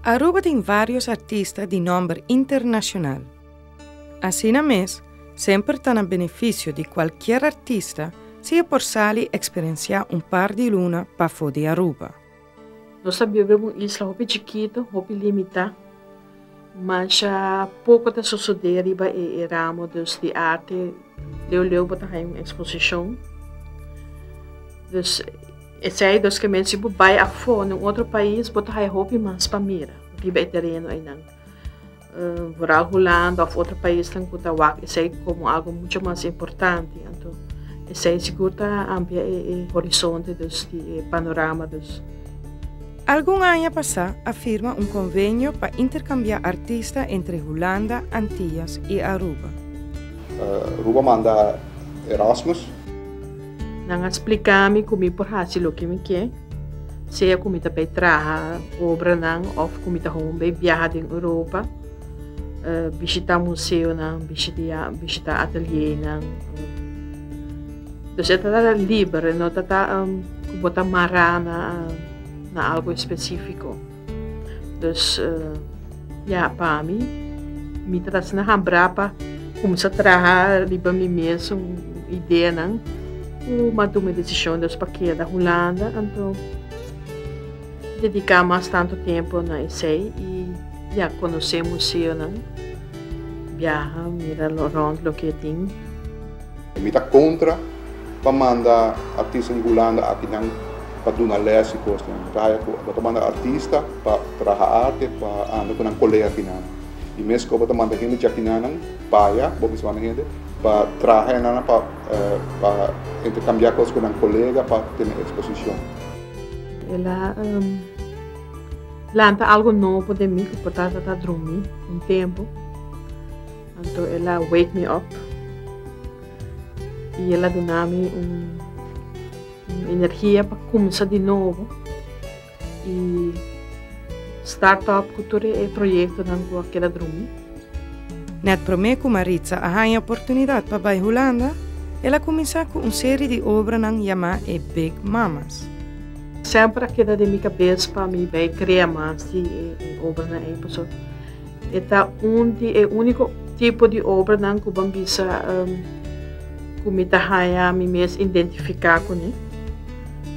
Aruba tin varios artista di nomber internacional. Asina mes, semper ta na beneficio di cualkier artista si e por sali experiencia un par di luna pafo di Aruba. Nos ta biba den un isla hopi chikitu, hopi limitá. Masha poko ta sosodé riba e ramo dus di arte, leu leu bo ta haña un eksposishon. Dus esei dos ke men si bo bai afó na un otro pais bo ta haña hopi mas pa mira riba e tereno einan. Vooral Hulanda of otro paisnan ku ta wak esei komo algu mucho mas importante. Anto esei sigur ta amplia e horizonte dus di e panorama dus. Algun aña pasá a firma un konvenio pa interkambiá artista entre Hulanda, Antillas i Aruba. Aruba manda Erasmus. Nan a splika mi ku mi por hasi loke mi ke, sea ku mi ta bai traha obranan òf ku mi ta hopi bai biaha den Europa, bishitá museonan, bishitá atelienan. Dus e ta tara liber, e no ta ku bo ta mará na algu espesífiko. Dus ya pa mi mi ta kos na hambra pa kumsa traha riba mi mes un ideanan ku mi a tuma desishon des pa keda Hulanda anto dediká mas tantu tempu na esei i ya konosé museonan biaha mira rònt loke e tin. Mi ta kontra pa manda artista di Hulanda akinan pa duna lès i kosnan. Mi ta haya ku bo ta manda artista pa traha arte, pa anda ku nan kolega akinan. I mes ku bo ta manda hende djakinanan paya, bo mester manda hende pa traha enan, pa interkambiá kos ku nan kolega, pa tene eksposishon. El a lanta algu nobo den mi ku por ta dromí un tempu. Anto el a wake mi op i el a duna mi un energia pa kumsa di nobo i start op ku tur e proyektonan ku a keda drumi. Nèt promé ku Maritza a haña oportunidat pa bai Hulanda, el a kuminsá ku un seri di obranan yamá e Big Mamas. Semper a keda den mi kabes pa mi bai krea mas di e obranan ei pasobra. E ta un di e úniko tipo di obranan ku ban bisa ku mi ta haña mi mes identifiká kuné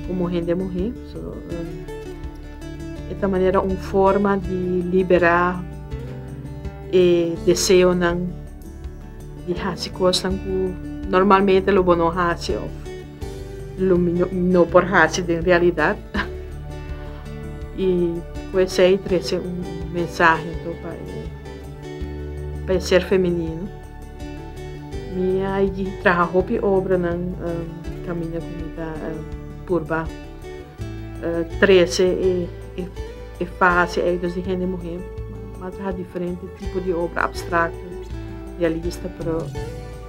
komo hende muhé. So, e ta manera un forma di liberá e deseonan di hasi kosnan ku normalmente lo bo no hasi òf. Lo mi no por haci den realidad. Y cu esey trece un mensahe anto pa e, pa e ser femenino. Mi a traha hopi obranan, camiña cu mi ta purba. trece e fase ei dus di hende muhé mas haña diferente tipo di obra abstracto realista pero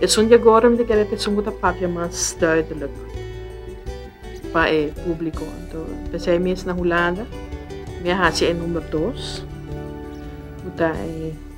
esun di agora mi ta kere cu esun cu ta papia mas duidelijk pa e publico anto pesey mes na hulanda mi a haci e number dos cu ta e.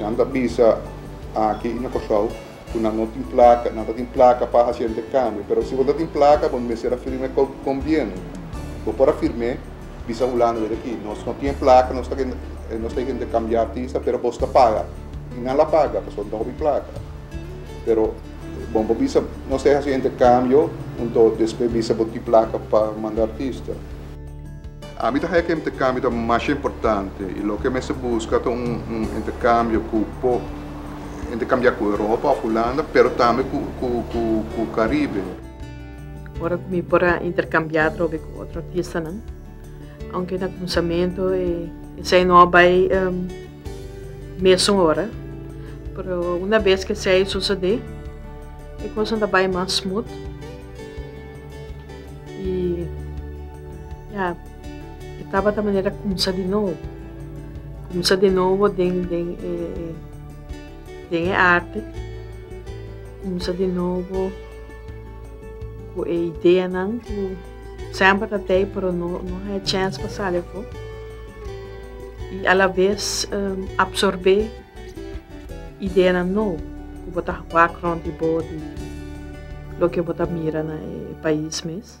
Nan ta bisa aki i na Kòrsou ku nan no tin plaka, nan ta tin plaka pa hasi entèkambio. Pero si bo ta tin plaka bo mester a firm'é ku gombièrnu. Bo por a firm'é, bisa Hulanda dje aki, nos no tin e plaka, nos ta nos ta e hende kambia artista pero bos ta paga. I nan la paga pasobra nan ta hopi plaka. Pero bon bo bisa nos ta e hasi entèkambio, un, dos, despues bisa bo tin plaka pa manda artista. Ami ta haña ku e interkambio ta masha importante i loke mester buska ta un interkambio ku por interkambiá ku Europa òf Hulanda, pero tambe ku Karibe. Ora ku mi por a interkambiá atrobe ku otro artistanan, ounke na kuminsamentu esei no a bai mesun ora, pero una bes ku esei sosodé, e kosnan ta bai mas smut. Ya, e tabata manera kumsa di nobo. Kumsa di nobo den e arti, kumsa di nobo ku e ideanan ku semper ta tei pero no haya chèns pa sali afó. I alabes apsorbé ideanan nobo ku bo ta wak rònt di bo di loke bo ta mira na e pais mes.